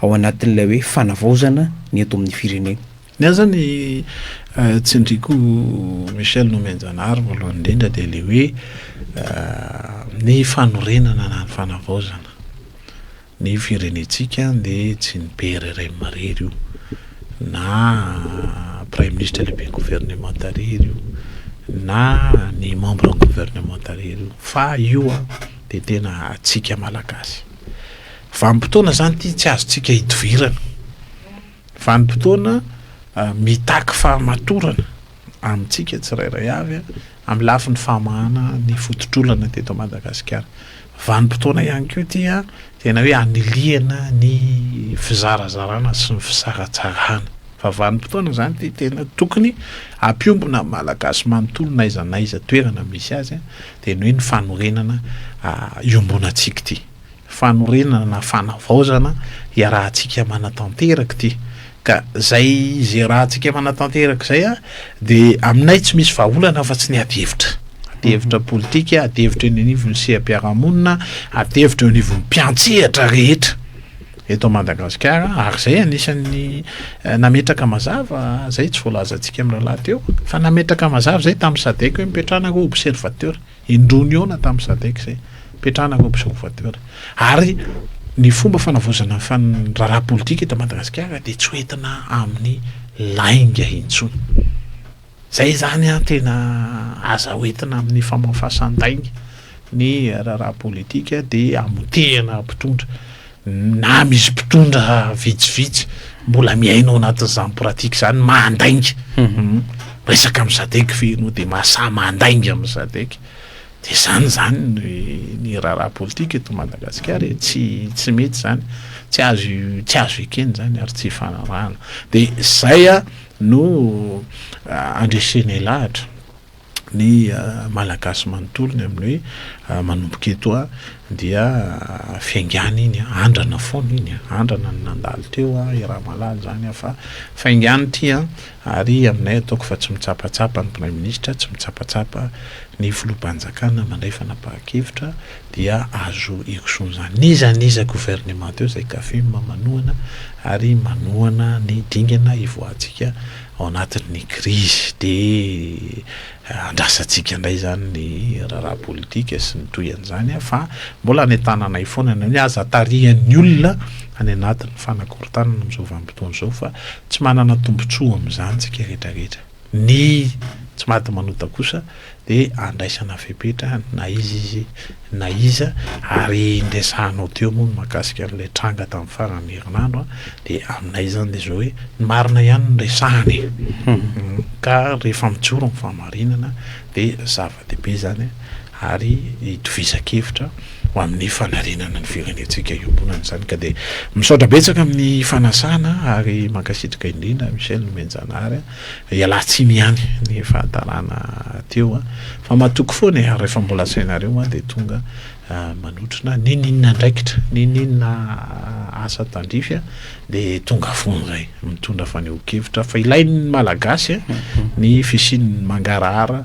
ao anatin'ilay hoe fanavaozana ny eto amin'ny firenena. Ny ahy zany eh, tsindriko Michel Nomenjanary voalohany indrindra dia le hoe eh, ny fanorenana na ny fanavaozana ny firenentsika dia tsy ny PRRM marery io na Prime Ministre lehibe gouvernement arery io na ny membre gouvernement arery io fa io a dia tena atsika malagasy. Vanim-potoana izany ity tsy azontsika hidivirana. Vanim-potoana mitaky fahamatorana amintsika tsirairay avy amin'ny lafiny famahana ny fototr'olona teto Madagasikara. Vanim-potoana ihany koa ity tena hoe anilihana ny fizarazarana sy ny fisaratsarana. Fa vanim-potoana izany ity tena tokony hampiombona ny Malagasy manontolo n'aiza n'aiza toerana misy azy. Dia ny hoe ny fanorenana iombonantsika ity. Fanorenana na fanavaozana iarahantsika manatanteraka ity. Ka izay izay iarahantsika manatanteraka izay dia aminay tsy misy vahaolana afa tsy ny ady hevitra. Ady hevitra politika, ady hevitra eny anivon'ny seha-piarahamonina, ady hevitra eo anivon'ny mpiantsehatra rehetra. eto Madagasikara ary izay anisan'ny nametraka mazava izay tsy voalazantsika amin'ny rahalahy teo fa nametraka mazava izay tamin'ny sadec hoe mipetrahana ho observateur indroa nihaona tamin'ny sadec izay mipetrahana ho observateur ary ny fomba fanavozana ny fan raharaha politika eto Madagasikara dia tsy hoentina amin'ny lainga intsony Zay zany an tena aza hoentina amin'ny famafasan-dainga ny raharaha politika dia hamotehana mpitondra na misy mpitondra vitsivitsy mbola miaina ao anatin'izany pratique izany mahandainga resaka amin'ny sadec ve ianao dia mahasahy mahandainga amin'ny sadec dia izany izany ny raharaha politika eto Madagasikara e, tsy tsy mety izany, tsy azo tsy azo ekena izany ary tsy ifanarahana dia izay an. No andresenay lahatra ny Malagasy manontolo ny amin'ny hoe manomboka eto a dia fiaingàna iny a, andrana foana iny a, andrana ny nandalo teo a, i Ramalalo izany a, fa faingàna ity a, ary aminay ataoko fa tsy mitsapatsapa ny Praiminisitra, tsy mitsapatsapa ny Filoham-panjakana mandray fanapahan-kevitra, dia azo ikosoan'izany n'iza n'iza governemanta eo izay kafim manohana ary manohana ny dingana hivoahantsika ao anatin'ny krizy dia andrasantsika indray izany ny raharaha politika sy ny toy an'izany an fa mbola any an-tananay foana ny amin'ny aza tarihan'ny olona any anatin'ny fanakorontanana amin'izao vanim-potoana izao fa tsy manana tombontsoa amin'izany isika rehetra rehetra. Ny tsy maty manota kosa dia andraisana fepetra na iza izy na iza ary ny resahanao teo moa mahakasika an'ilay tranga tamin'ny faran'ny herinandro dia aminay izany dia izao hoe ny marina ihany no resahana e! ka rehefa mijoro ny fahamarinana dia zava-dehibe izany. ary hitovizan-kevitra ho amin'ny fanarenana ny firenentsika iombonana izany ka dia misaotra betsaka amin'ny fanasana ary mankasitraka indrindra Michel Nomenjanahary a, ialahy tsiny ihany ny fahatarana teo a, fa matoky foana e, ary rehefa mbola asainareo a dia tonga manotrona ninininona andraikitra, ninininona asa tandrify a dia tonga foana izay mitondra fanehoan-kevitra fa ilain'ny malagasy a ny fisian'ny mangarahara